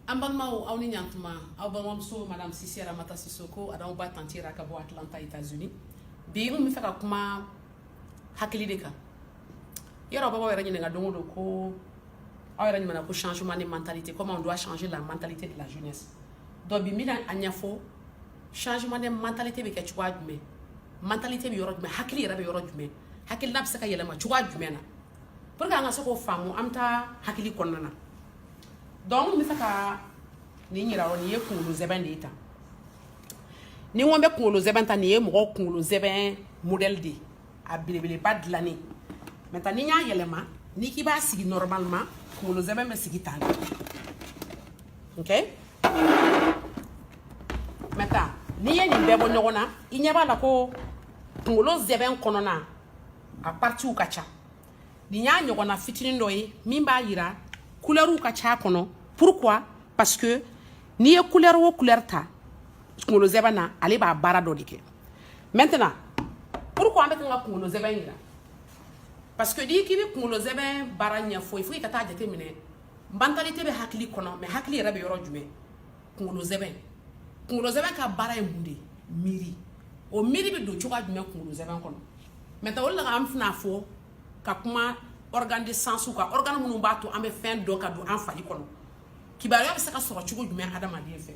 An balimaw aw ni ɲantuma aw balimamuso madame Sise Ramata Sisoko ani aw ba tante Ra ka bɔ Atlanta Etats Unis bi n kun bɛ fɛ ka kuma hakili de kan yɔrɔ bɛɛ b'aw yɛrɛ ɲininka don o don ko aw yɛrɛ ɲɛ na ko changement de mentalité comment on doit changer la mentalité de la jeunesse donc bi n bɛna a ɲɛfɔ changement de mentalité bɛ kɛ cogoya jumɛn mentalité bɛ yɔrɔ jumɛn hakili yɛrɛ bɛ yɔrɔ jumɛn hakilina bɛ se ka yɛlɛma cogoya jumɛn na pour que an ka se k'o faamu an bɛ taa hakili kɔnɔna na donc n bɛ fɛ ka nin yira o nin ye kunkolo zɛbɛn de ye tan ni n ko n bɛ kunkolo zɛbɛn ta nin ye mɔgɔ kunkolo zɛbɛn modèle de ye a belebeleba dilannen maintenant ni n y'a yɛlɛma n'i k'i b'a sigi normalement kunkolo zɛbɛn bɛ sigi tan ok maintenant n'i ye nin bɛɛ bɔ ɲɔgɔn na i ɲɛ b'a la ko kunkolo zɛbɛn kɔnɔna a partiw ka ca nin y'a ɲɔgɔnna fitinin dɔ ye min b'a yira kulɛriw ka c'a kɔnɔ pourquoi parce que n'i ye kulɛri o kulɛri ta kunkolo zɛbɛn na ale b'a baara dɔ de kɛ maintenant pourquoi an bɛ kan ka kunkolo zɛbɛn yira parce que n'i k'i bɛ kunkolo zɛbɛn baara ɲɛfɔ il faut i ka taa jateminɛ mentalité bɛ hakili kɔnɔ mais hakili yɛrɛ bɛ yɔrɔ jumɛn kunkolo zɛbɛn kunkolo zɛbɛn ka baara ye mun de ye miiri o miiri bɛ don cogoya jumɛn kunkolo zɛbɛn kɔnɔ maintenant o la an fana fɔ ka kuma organe de sensw kan organe minnu b'a to an bɛ fɛn dɔn ka don an fari kɔnɔ kibaruya bɛ se ka sɔrɔ cogo jumɛn adamaden fɛ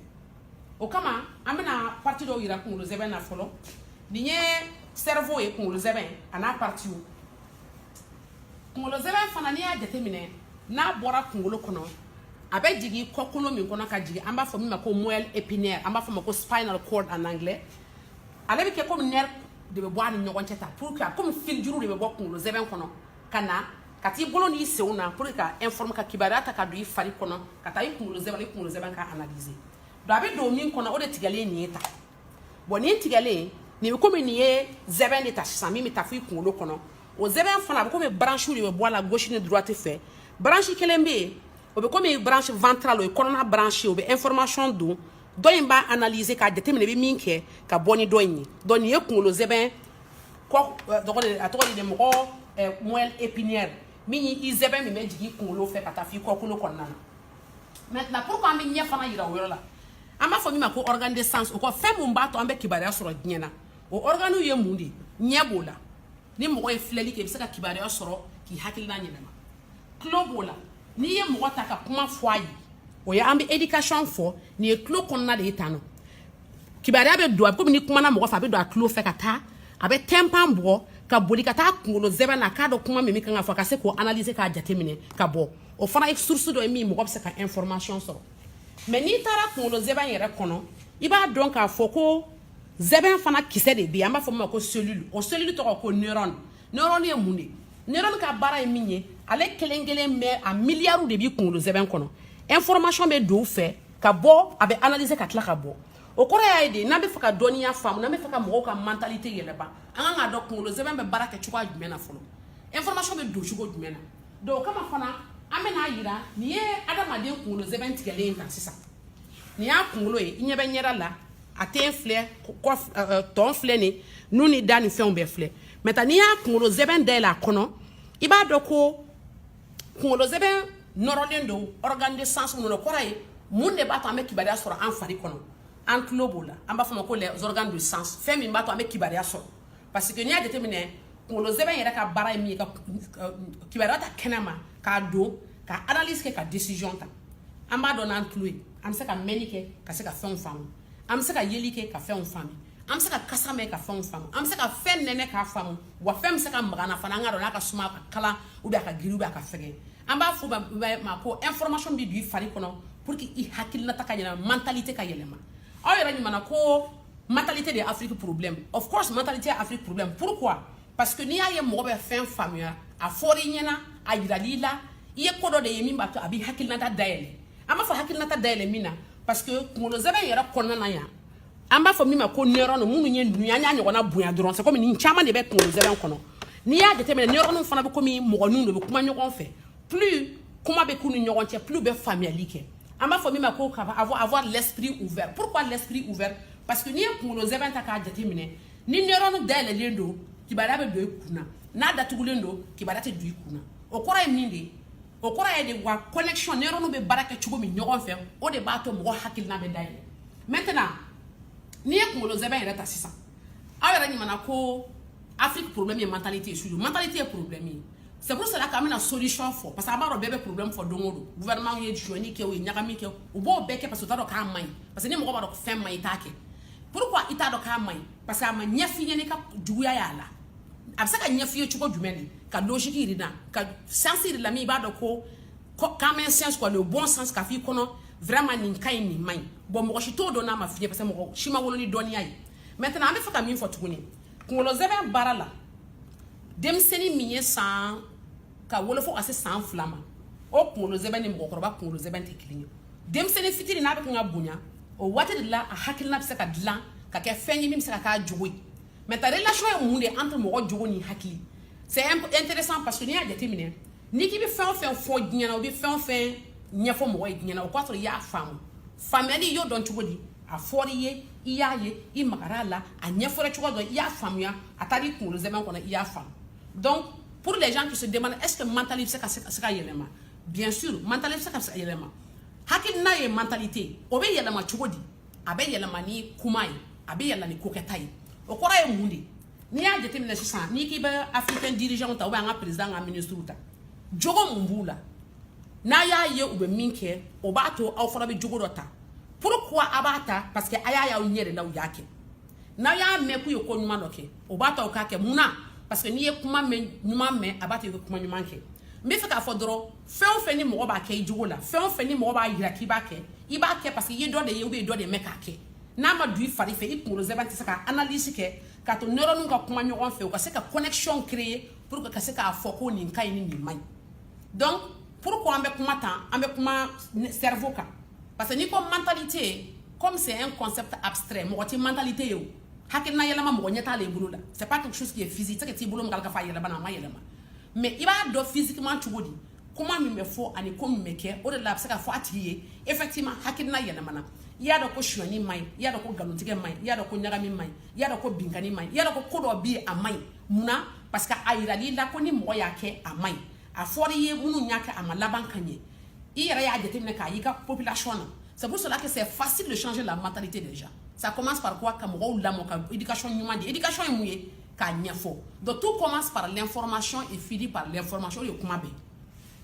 o kama an bɛna parti dɔw yira kunkolo zɛbɛn na fɔlɔ nin ye cerveau ye kunkolo zɛbɛn a n'a partiw kunkolo zɛbɛn fana n'i y'a jateminɛ n'a bɔra kunkolo kɔnɔ a bɛ jigin kɔkolo min kɔnɔ ka jigin an b'a fɔ min ma ko moelle épinière an b'a fɔ ma ko spinal cord en anglais ale bɛ kɛ komi nerf de bɛ bɔ a ni ɲɔgɔn cɛ tan pour que komi filijuru de bɛ bɔ kunkolo zɛbɛn kɔnɔ ka na ka t'i bolo n'i senw na pour que ka informe ka kibaruya ta ka don i fari kɔnɔ ka taa i kunkolo zɛbɛn i kunkolo zɛbɛn ka analyser donc a bɛ don min kɔnɔ o de tigɛlen nin ye tan bon nin tigɛlen nin bɛ komi nin ye zɛbɛn de tan sisan min bɛ taa fo i kunkolo kɔnɔ o zɛbɛn fana a bɛ komi branche de bɛ bɔ a la gauche ni droite fɛ branche kelen bɛ yen o bɛ komi branche ventrale o ye kɔnɔna branche o bɛ information don dɔ in b'a analyser k'a jateminɛ i bɛ min kɛ ka bɔ ni dɔ in ye donc nin ye kunkolo zɛbɛn kɔ tɔgɔ de a tɔgɔ de mo moelle épinière min y'i zɛbɛn min bɛ jigin kunkolo fɛ ka taa f'i kɔkolo kɔnɔna na maintenant pourquoi an bɛ ɲɛ fana yira o yɔrɔ la an b'a fɔ min ma ko organe de sens o kɔ fɛn mun b'a to an bɛ kibaruya sɔrɔ diɲɛ na o organiw ye mun de ye ɲɛ b'o la ni mɔgɔ ye filɛli kɛ i bɛ se ka kibaruya sɔrɔ k'i hakilina ɲɛnama tulo b'o la n'i ye mɔgɔ ta ka kuma fɔ a ye o ye an bɛ éducation fɔ nin ye tulo kɔnɔna de ye tan nɔ kibaruya bɛ don a bɛ komi n'i kumana mɔgɔ fɛ a bɛ don a tulo fɛ ka taa a bɛ tympan bɔ ka boli ka taa kunkolo zɛbɛn na k'a dɔn kuma min kan ka fɔ ka se k'o analyser k'a jateminɛ ka bɔ o fana ye source dɔ ye min mɔgɔ bɛ se ka information sɔrɔ mais n'i taara kunkolo zɛbɛn yɛrɛ kɔnɔ i b'a dɔn k'a fɔ ko zɛbɛn fana kisɛ de bɛ yen an b'a fɔ min ma ko cellule o cellule tɔgɔ ko neurone neurone ye mun de neurone ka baara ye min ye ale kelen kelen bɛɛ a miliyariw de b'i kunkolo zɛbɛn kɔnɔ information bɛ don u fɛ ka bɔ a bɛ analyser ka tila ka bɔ o kɔrɔ y'a ye de n'an bɛ fɛ ka dɔnniya faamu n'an bɛ fɛ ka mɔgɔw ka mentalité yɛlɛma an kan k'a dɔn kunkolo zɛbɛn bɛ baara kɛ cogoya jumɛn na fɔlɔ information bɛ don cogo jumɛn na donc o kama fana an bɛna a yira nin ye adamaden kunkolo zɛbɛn tigɛlen ye tan sisan nin y'a kunkolo ye i ɲɛ bɛ ɲɛda la a ten filɛ kɔ tɔn filɛ nin nun ni da ni fɛnw bɛɛ filɛ maintenant n'i y'a kunkolo zɛbɛn dayɛlɛ a kɔnɔ i b'a dɔn ko kunkolo zɛbɛn nɔrɔlen don organe de sens minnu na o kɔrɔ ye mun de b'a to an bɛ kibaruya sɔrɔ an fari kɔnɔ an tulo b'o la an b'a f'a ma ko les organes de sens fɛn min b'a to an bɛ kibaruya sɔrɔ parce que n'i y'a jateminɛ kunkolo zɛbɛn yɛrɛ ka baara ye min ye ka kibaruya ta kɛnɛ ma k'a don ka analyse kɛ ka décision ta an b'a dɔn n'an tulo ye an bɛ se ka mɛnni kɛ ka se ka fɛnw faamu an bɛ se ka yeli kɛ ka fɛnw faamu an bɛ se ka kasa mɛn ka fɛnw faamu an bɛ se ka fɛn nɛnɛ k'a faamu wa fɛn bɛ se ka mag'an na fana an k'a dɔn n'a ka suma a ka kalan ou bien a ka girin ou bien a ka fɛgɛn an b'a f'u ma ko information bɛ don i fari kɔnɔ pour que i hakilinata ka yɛlɛma mentalité ka yɛlɛma aw yɛrɛ ɲuman na ko Mentalité de Afrique problème. Of course, mentalité Afrique problème. Pourquoi? Parce que n'i y'a ye mɔgɔ bɛ fɛn faamuya, a fɔra i ɲɛna, a yiral'i la, i ye ko dɔ de ye min b'a to a b'i hakilinata dayɛlɛ. An b'a fɔ hakilinata dayɛlɛ mun na, parce que kunkolo zɛbɛn yɛrɛ kɔnɔna na yan, an b'a fɔ min ma ko neurone minnu ye ninnu ye, an y'a ɲɔgɔnna bonya dɔrɔn, c'est comme nin caman de bɛ kunkolo zɛbɛn kɔnɔ. N'i y'a jateminɛ neurone fana bɛ komi mɔgɔninw de bɛ kuma ɲɔgɔn fɛ, plus kuma bɛ k'u ni ɲɔgɔn cɛ, plus u bɛ faamuyali kɛ. an b'a fɔ min ma ko ka avoir avoir l'esprit ouvert pourquoi l'esprit ouvert parce que n'i ye kunkolo zɛbɛn ta k'a jateminɛ ni neurone dayɛlɛlen don kibaruya bɛ don i kun na n'a datugulen don kibaruya tɛ don i kun na o kɔrɔ ye mun de ye o kɔrɔ ye de wa connexion neurone bɛ baara kɛ cogo min ɲɔgɔn fɛ o de b'a to mɔgɔ hakilina bɛ dayɛlɛ maintenant n'i ye kunkolo zɛbɛn yɛrɛ ta sisan aw yɛrɛ ɲumanna ko afrique problème ye mentalité ye surtout mentalité ye problème ye c'est pour cela k'an bɛna solution fɔ parce que a b'a dɔn bɛɛ bɛ problème fɔ don o don gouvernement ye sonyani kɛ o ye ɲagami kɛ u b'o bɛɛ kɛ parce que u t'a dɔn k'a man ɲi parce que ni mɔgɔ b'a dɔn fɛn man ɲi i t'a kɛ pourquoi i t'a dɔn k'a man ɲi parce que a ma ɲɛf'i ye n'i ka juguya y'a la a bɛ se ka ɲɛf'i ye cogo jumɛn de k'a logique yir'i na k'a sens yir'i la min i b'a dɔn ko common sense quoi le bon sens k'a f'i kɔnɔ vraiment nin ka ɲi nin man ɲi bon mɔgɔ si t'o dɔn n'a ma f'i ye parce que mɔgɔ si ma wolo ni dɔnniya ye maintenant an bɛ fɛ ka min fɔ tuguni kunkolo zɛbɛn baara la denmisɛnnin min ye san ka wolo fo ka se san fila ma o kunkolo zɛbɛn ni mɔgɔkɔrɔba kunkolo zɛbɛn tɛ kelen ye denmisɛnnin fitini n'a bɛ kan ka bonya o waati de la a hakilina bɛ se ka dilan ka kɛ fɛn ye min bɛ se ka k'a jogo ye mais ta relation ye mun de ye entre mɔgɔ jogo ni hakili c'est intéressant parce que n'i y'a jateminɛ n'i k'i bɛ fɛn o fɛn fɔ diɲɛ na o bɛ fɛn o fɛn ɲɛfɔ mɔgɔ ye diɲɛ na o k'a sɔrɔ i y'a faamu faamuyali y'o dɔn cogo di a fɔra i ye i y'a ye i magara a la a ɲɛfɔra cogo dɔ i y'a faamuya a taara i kunkolo zɛmɛ kɔnɔ i y'a faamu donc pour les gens qui se demandent est ce que mentalité bɛ se ka yɛlɛma bien sûr mentalité bɛ se ka yɛlɛma hakilina ye mentalité o bɛ yɛlɛma cogo di a bɛ yɛlɛma ni kuma ye a bɛ yɛlɛma ni kokɛta ye o kɔrɔ ye mun de ye n'i y'a jateminɛ sisan n'i k'i bɛ africain dirigeant ta ou bien an ka président an ka ministre ta jogo mun b'u la n'a y'a ye u bɛ min kɛ o b'a to aw fana bɛ jogo dɔ ta pourquoi a b'a ta parce que a y'a y'aw ɲɛ de la u y'a kɛ n'a y'a mɛn k'u ye ko ɲuman dɔ kɛ o b'a t'aw k'a kɛ mun na parce que n'i ye kuma mɛn ɲuman mɛn a b'a to i bɛ kuma ɲuman kɛ n bɛ fɛ k'a fɔ dɔrɔn fɛn o fɛn ni mɔgɔ b'a kɛ i jogo la fɛn o fɛn ni mɔgɔ b'a yira k'i b'a kɛ i b'a kɛ parce que i ye dɔ de ye ou bien dɔ de mɛn k'a kɛ n'a ma don i fari fɛ i kunkolo zɛmɛ tɛ se ka analyse kɛ k'a to neurones ka kuma ɲɔgɔn fɛ u ka se ka connexion créer pour que ka se k'a fɔ ko nin ka ɲi ni nin man ɲi donc pourquoi an bɛ kuma tan an bɛ kuma cerveau kan parce que n'i ko mentalité comme c'est un concept abstrait mɔgɔ tɛ mentalité ye o hakilina yɛlɛma mɔgɔ ɲɛ t'a la i bolo la c'est pas quelque chose qui est physique tɛ t'i bolo min k'a k'a fɔ a yɛlɛmana a ma yɛlɛma mais i b'a dɔn physiquement cogo di kuma min bɛ fɔ ani ko min bɛ kɛ o de la a bɛ se k'a fɔ a tigi ye effectivement hakilina yɛlɛmana i y'a dɔn ko sonyani man ɲi i y'a dɔn ko nkalontigɛ man ɲi i y'a dɔn ko ɲagami man ɲi i y'a dɔn ko binkanni man ɲi i y'a dɔn ko ko dɔ bɛ yen a man ɲi munna parce que a yirala i la ko ni mɔgɔ y'a kɛ a man ɲi a fɔra i ye minnu y'a kɛ a ma laban ka ɲɛ i yɛrɛ y'a jateminɛ k'a y'i ka population na c'est pour cela que c'est facile de changer la mentalité des gens ça commence par quoi ka mɔgɔw lamɔ ka éducation ɲuman di éducation ye mun ye k'a ɲɛfɔ donc tout commence par l'information et finit par l'information o de ye kuma bɛɛ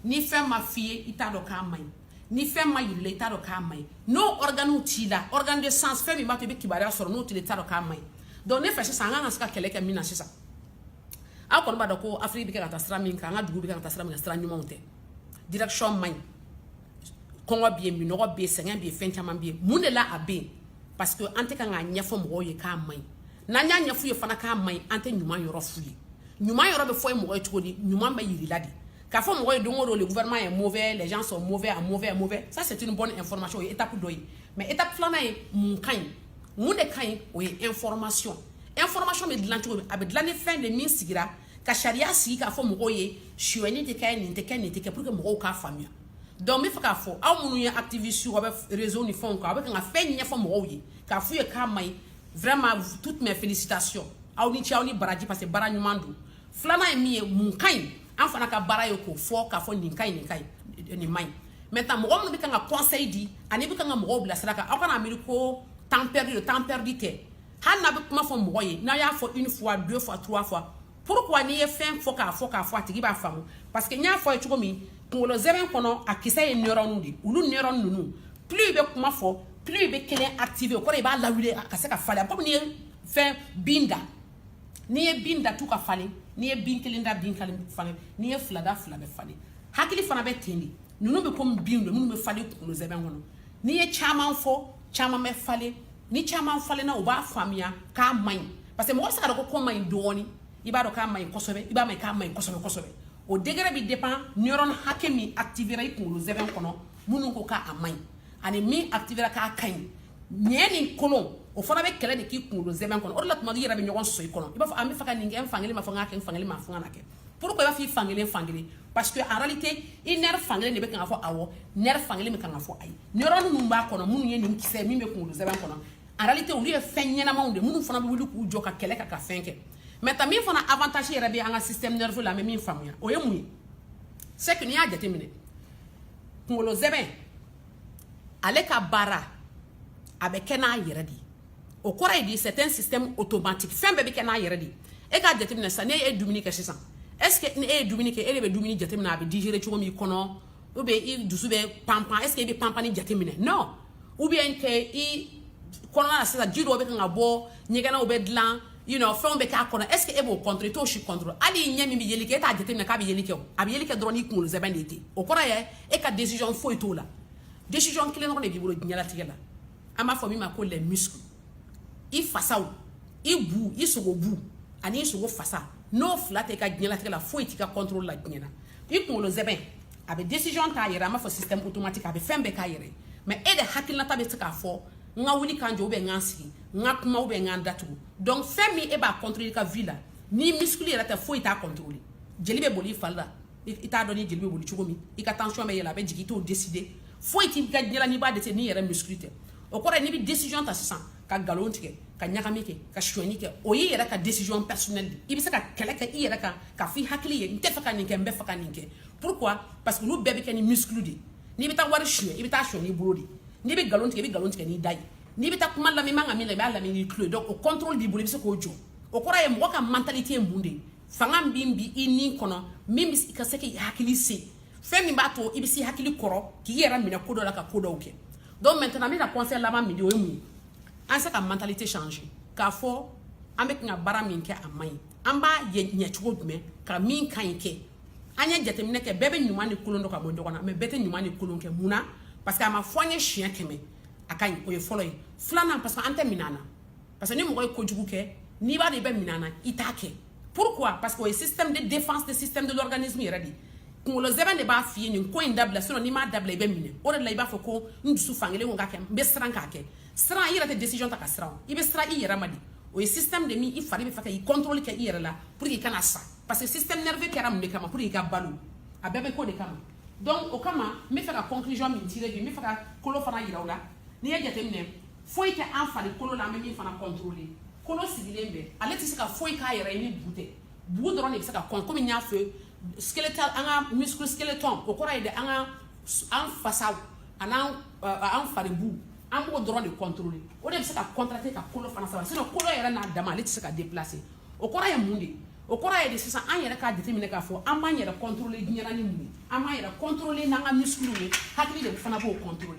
ni fɛn ma f'i ye i t'a dɔn k'a man ɲi ni fɛn ma yira i la i t'a dɔn k'a man ɲi n'o organes t'i la organes de sens fɛn min b'a to i bɛ kibaruya sɔrɔ n'o t'i la i t'a dɔn k'a man ɲi donc ne fɛ sisan an kan ka se ka kɛlɛ kɛ min na sisan aw kɔni b'a dɔn ko afiriki bɛ kɛ ka taa sira min kan an ka dugu bɛ kɛ ka taa sira min kan sira ɲumanw tɛ direction man ɲi kɔngɔ bɛ yen minɔgɔ bɛ yen sɛgɛn bɛ yen fɛn caman bɛ yen mun de la a bɛ yen parce que an tɛ kan k'a ɲɛfɔ mɔgɔw ye k'a man ɲi n'an y'a ɲɛf'u ye fana k'a man ɲi an tɛ ɲuman yɔrɔ f'u ye ɲuman yɔrɔ bɛ fɔ ye mɔgɔ ye cogo di ɲuman bɛ yira i la de K'a fɔ mɔgɔ ye don o don le gouvernement est mauvais, les gens sont mauvais, à mauvais, à mauvais, ça c'est une bonne information o ye étape dɔ ye mais étape filanan ye mun ka ɲi mun de ka ɲi o ye information information bɛ dilan cogo min a bɛ dilan ni fɛn de min sigira ka sariya sigi k'a fɔ mɔgɔw ye suyɛni tɛ kɛ nin tɛ kɛ nin tɛ kɛ pour que mɔgɔw k'a faamuya donc n bɛ fɛ k'a fɔ aw minnu ye activiste aw bɛ réseau ni fɛnw kan aw bɛ kan ka fɛn ɲɛfɔ mɔgɔw ye k'a f'u ye k'a man ɲi vraiment toutes mes félicitations aw ni ce aw ni baraji parce que baara ɲuman don filanan ye min ye mun ka ɲi an fana ka baara ye k'o fɔ k'a fɔ nin ka ɲi nin ka ɲi nin man ɲi maintenant mɔgɔ minnu bɛ kan ka conseil di ani bɛ kan ka mɔgɔw bila sira kan aw kana miiri ko temps perdu don temps perdu tɛ hali n'a bɛ kuma fɔ mɔgɔ ye n'a y'a fɔ une fois deux fois trois fois pourquoi n'i ye fɛn fɔ k'a fɔ k'a fɔ a tigi b'a faamu parce que n y'a fɔ a ye cogo min kunkolo zɛmɛ kɔnɔ a kisɛ ye neuron de olu neuron ninnu plus i bɛ kuma fɔ plus i bɛ kelen activer o kɔrɔ i b'a lawuli a ka se ka falen komi n'i ye fɛn bin dan n'i ye bin dan tu ka falen n'i ye bin kelen dan bin kelen falen n'i ye fila dan fila bɛ falen hakili fana bɛ ten de ninnu bɛ komi bin don minnu bɛ falen kunkolo zɛbɛn kɔnɔ n'i ye caman fɔ caman bɛ falen ni caman falenna u b'a faamuya k'a man ɲi parce que mɔgɔ bɛ se ka dɔn ko ko man ɲi dɔɔni i b'a dɔn k'a man ɲi kosɛbɛ i b'a mɛn k'a man ɲi kosɛbɛ kosɛbɛ o degré bɛ dépend neuron hakɛ min activera i kunkolo zɛbɛn kɔnɔ minnu ko k'a man ɲi ani min activera k'a ka ɲi ɲɛ ni kɔnɔ o fana bɛ kɛlɛ de k'i kunkolo zɛmɛ kɔnɔ o de la tuma i yɛrɛ bɛ ɲɔgɔn sɔsɔ i kɔnɔ i b'a fɔ n b'a fɛ ka nin kɛ n fankelen b'a fɔ n k'a kɛ n fankelen b'a fɔ n kana kɛ pourquoi i b'a fɔ i fankelen fankelen parce que en réalité i nerf fankelen de bɛ kan k'a fɔ awɔ nerf fankelen bɛ kan k'a fɔ ayi neuron minnu b'a kɔnɔ minnu ye nin kisɛ min bɛ kunkolo zɛmɛ kɔnɔ en réalité olu ye fɛn ɲɛnamaw de minnu fana bɛ wuli k'u jɔ ka kɛlɛ kɛ ka fɛn kɛ mais ta min fana avantage yɛrɛ bɛ an ka système nerveux la an bɛ min faamuya o ye mun ye c'est que n'i y'a jateminɛ kunkolo zɛmɛ ale ka baara a bɛ kɛ n'a yɛrɛ de o kɔrɔ ye di c'est un système automatique fɛn bɛɛ bɛ kɛ n'a yɛrɛ de e k'a jateminɛ sisan n'e ye dumuni kɛ sisan est ce que ni e ye dumuni kɛ e de bɛ dumuni jateminɛ a bɛ digérer cogo min i kɔnɔ ou bien i dusu bɛ panpan est ce que i bɛ panpanni jateminɛ non ou bien que i kɔnɔna na sisan ji dɔw bɛ kan ka bɔ ɲɛgɛnɛw bɛ dilan you know fɛnw bɛ k'a kɔnɔ est ce que e b'o contrôler i t'o si contrôler hali i ɲɛ min bɛ yeli kɛ e t'a jateminɛ k'a bɛ yeli kɛ o a bɛ yeli kɛ dɔrɔn n'i kunkolo zɛmɛ de ye ten o kɔrɔ ye e ka décision foyi t'o la décision kelen dɔrɔn de b'i bolo diɲɛlatigɛ la an b'a fɔ min ma ko les muscles i fasaw i bu i sogo bu ani i sogo fasa n'o fila tɛ i ka diɲɛlatigɛ la foyi t'i ka contrôle la diɲɛ na i kunkolo zɛbɛn a bɛ décision t'a yɛrɛ an b'a fɔ système automatique a bɛ fɛn bɛɛ k'a yɛrɛ mais e de hakilinata bɛ se k'a fɔ n ka wuli ka n jɔ ou bien n ka n sigi n ka kuma ou bien n ka n da tugu donc fɛn min e b'a contrôler i ka vie la n'i muscle yɛrɛ tɛ foyi t'a contrôler jeli bɛ boli i fari la i t'a dɔn ni jeli bɛ boli cogo min i ka tension bɛ yɛlɛ a bɛ jigin i t'o décider foyi t'i ka diɲɛ la n'i b'a décider n'i yɛrɛ muscle tɛ o kɔrɔ ye n'i bɛ décision ta sisan ka nkalon tigɛ ka ɲagami kɛ ka sonyani kɛ o y'i yɛrɛ ka décision personnelle de i bɛ se ka kɛlɛ kɛ i yɛrɛ kan k'a fɔ i hakili ye n tɛ fɛ ka nin kɛ n bɛ fɛ ka nin kɛ pourquoi parce que olu bɛɛ bɛ kɛ ni muscle de ye n'i bɛ taa wari suɲɛ i bɛ taa suɲɛ n'i bolo de ye n'i bɛ nkalon tigɛ i bɛ nkalon tigɛ n'i da ye n'i bɛ taa kuma lamɛn i man ka min lamɛn i b'a lamɛn n'i tulo ye donc o contrôle b'i bolo i bɛ se k'o jɔ o kɔrɔ ye mɔgɔ ka mentalité ye mun de ye fanga min b'i ni kɔnɔ min bɛ i ka se k'i hakili se fɛn min b'a to i bɛ se hakili kɔrɔ k'i yɛrɛ minɛ ko dɔ la ka ko dɔw kɛ donc maintenant n bɛ ka conseil laban min di o ye mun ye an se ka mentalité changer k'a fɔ an bɛ ka baara min kɛ a man ɲi an b'a ɲɛ cogo jumɛn ka min ka ɲi kɛ an ye jateminɛ kɛ bɛɛ bɛ ɲuman ni kolon dɔn ka bɔ ɲɔgɔn na mais bɛɛ tɛ ɲuman ni kolon kɛ mun na parce que a ma fɔ an ye siɲɛ kɛmɛ a ka ɲi o ye fɔlɔ ye filanan parce que an tɛ minɛ na parce que ni mɔgɔ ye kojugu kɛ n'i b'a dɔn i bɛ minɛ na i t'a kɛ pourquoi parce que o ye système de défense de système de l'organisme yɛrɛ de ye kunkolo sɛmɛ de b'a f'i ye nin ko in dabila sinon n'i m'a dabila i bɛ minɛ o de la i b'a fɔ ko n dusu fankelen ko k'a kɛ n bɛ siran k'a kɛ siran i yɛrɛ tɛ décision ta ka siran o i bɛ siran i yɛrɛ ma de o ye système de min i fari bɛ fɛ ka i contrôle kɛ i yɛrɛ la pour que i kana sa parce que système nerveux kɛra mun de kama pour que i ka balo a bɛɛ bɛ k'o de kama donc o kama n bɛ fɛ ka conclusion min tirer bi n bɛ fɛ ka kolo fana yira aw la n'i ye jateminɛ foyi tɛ an farikolo la an bɛ min fana contrôler kolo sigilen bɛ ale tɛ se ka foyi k'a yɛrɛ ye ni bu tɛ bu dɔrɔn de bɛ se ka kɔn komi n y'a fɔ skeletal an ka muscle skeleton o kɔrɔ ye de an ka an fasaw an'an euh, an faribu an b'o dɔrɔn de contrôler o de bɛ se ka contracter ka kolo fana sama sinon kolo yɛrɛ n'a dama ale tɛ se ka déplacer o kɔrɔ ye mun de ye o kɔrɔ ye de sisan an yɛrɛ k'a jateminɛ k'a fɔ an b'an yɛrɛ contrôler diɲɛ na ni mun ye an b'an yɛrɛ contrôler n'an ka muscles ye hakili de fana b'o contrôler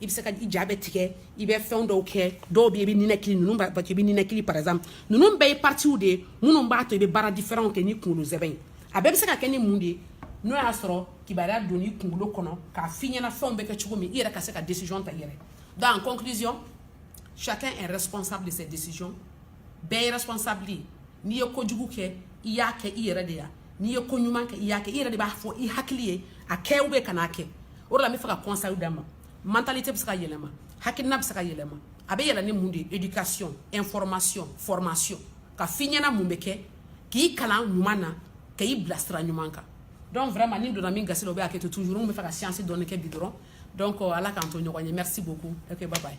i bɛ se ka i ja bɛ tigɛ i bɛ fɛn dɔw kɛ dɔw bɛ yen i bɛ ninakili ninnu b'a to i bɛ ninakili par exemple ninnu bɛɛ ye parties de ye minnu b'a to i bɛ baara différents kɛ ni kunkolo sɛmɛ ye a bɛɛ bɛ se ka kɛ ni mun de ye n'o y'a sɔrɔ kibaruya donn'i kunkolo kɔnɔ k'a f'i ɲɛna fɛnw bɛ kɛ cogo min i yɛrɛ ka se ka décision ta i yɛrɛ donc en conclusion chacun est responsable de ses décisions bɛɛ ye responsable ye n'i ye kojugu kɛ i y'a kɛ i yɛrɛ de ya n'i ye ko ɲuman kɛ i y'a kɛ i yɛrɛ de b'a fɔ i hakili ye a kɛ ou bien kan'a kɛ o de la n bɛ fɛ ka conseil d'a ma mentalité bɛ se ka yɛlɛma hakilina bɛ se ka yɛlɛma a bɛ yɛlɛma ni mun de ye éducation information formation k'a f'i ɲɛna mun bɛ kɛ k'i kalan ɲuman na ka i bila sira ɲuman kan donc vraiment ni n donna min gasi la o bɛ hakɛ to toujours n bɛ fɛ ka science dɔɔni kɛ bi dɔrɔn donc ala k'an to ɲɔgɔn ye merci beaucoup ok bye bye